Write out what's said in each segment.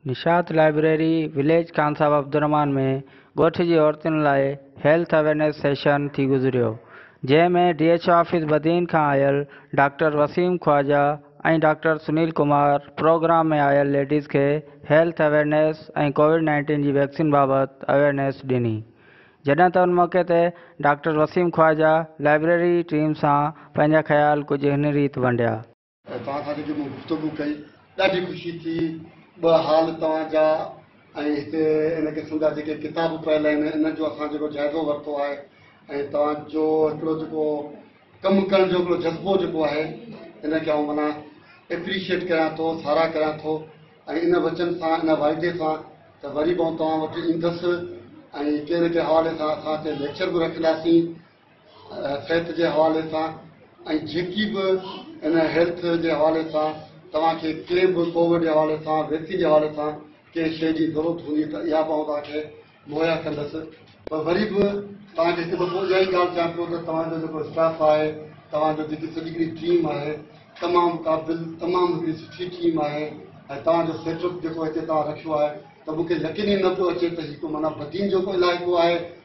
نشاط library village Khan Sahib Abdul ۾ ڳوٺ جي عورتن لاء هيلٿ اويرنيس سيشن ٿي گذريو جنهن ۾ D H O office Badin کان آيل doctor Waseem Khawaja ۽ doctor Sunil Kumar programme ۾ آيل ليڊيز کي هيلٿ اويرنيس ۽ ڪووڊ نائنٽين جي ويڪسين بابت اويرنيس ڏني جڏهن ته ان موقعي تي doctor Waseem Khawaja library team سان پنهنجا خيال ڪجهه هن ريت ونڊيا. ۽ توهان سان جيڪي مون گفتگو ڪئي ڏاڍي خوشي ٿي ٻه حال توهان جا ۽ هتي ان قسم جا جيڪي ڪتاب پيل آهن انهن جو اسان جيڪو جائزو ورتو آهي ۽ توهان جو هڪڙو جيڪو ڪم ڪرڻ جو هڪڙو جذبو جيڪو آهي ان کي آئون منا اپريشيئيٽ ڪريان ٿو ساراهه ڪريان ٿو ۽ ان وچن سان ان واعدي سان ته وري به آئون توهان وٽ ايندس ۽ ڪنهن نه ڪنهن حوالي سان اسان هتي ليڪچر به رکنداسين صحت جي حوالي سان ۽ جيڪي به ان هيلٿ جي حوالي سان توهان کي ڪنهن به ڪووڊ جي حوالي سان ويڪسين جي حوالي سان ڪنهن شيء جي ضرورت هوندي ته اها به آئون توهان کي مهيا ڪندس پر وري به توهان کي هڪ دفعو اها ئي ڳالهه چوان پيو ته توهان جو جيڪو اسٽاف آهي توهان جو جيڪي سڄي هڪڙي ٽيم آهي تمام قابل تمام هڪڙي سٺي ٽيم آهي ۽ توهان جو سيٽ اپ جيڪو هتي توهان رکيو آهي ته مون کي يقين ئي نه پيو اچي ته هي ڪو معنيٰ بدين جو ڪو علائقو آهي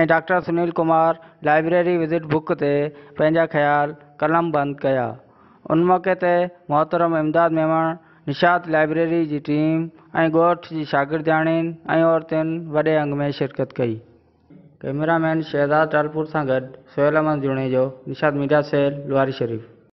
۽ doctor Sunil Kumar library visit book تي پنهنجا خيال قلم بند ڪيا. ان موقعي تي محترم امداد ميمڻ، نشاط لائبريري جي ٽيم ۽ ڳوٺ جي شاگردياڻين ۽ عورتين وڏي انگ ۾ شرڪت ڪئي. ڪئميرا مين شهزاد ٽالپور سان گڏ سهيل احمد جوڻيجو، نشاط ميڊيا سيل، لواري شريف.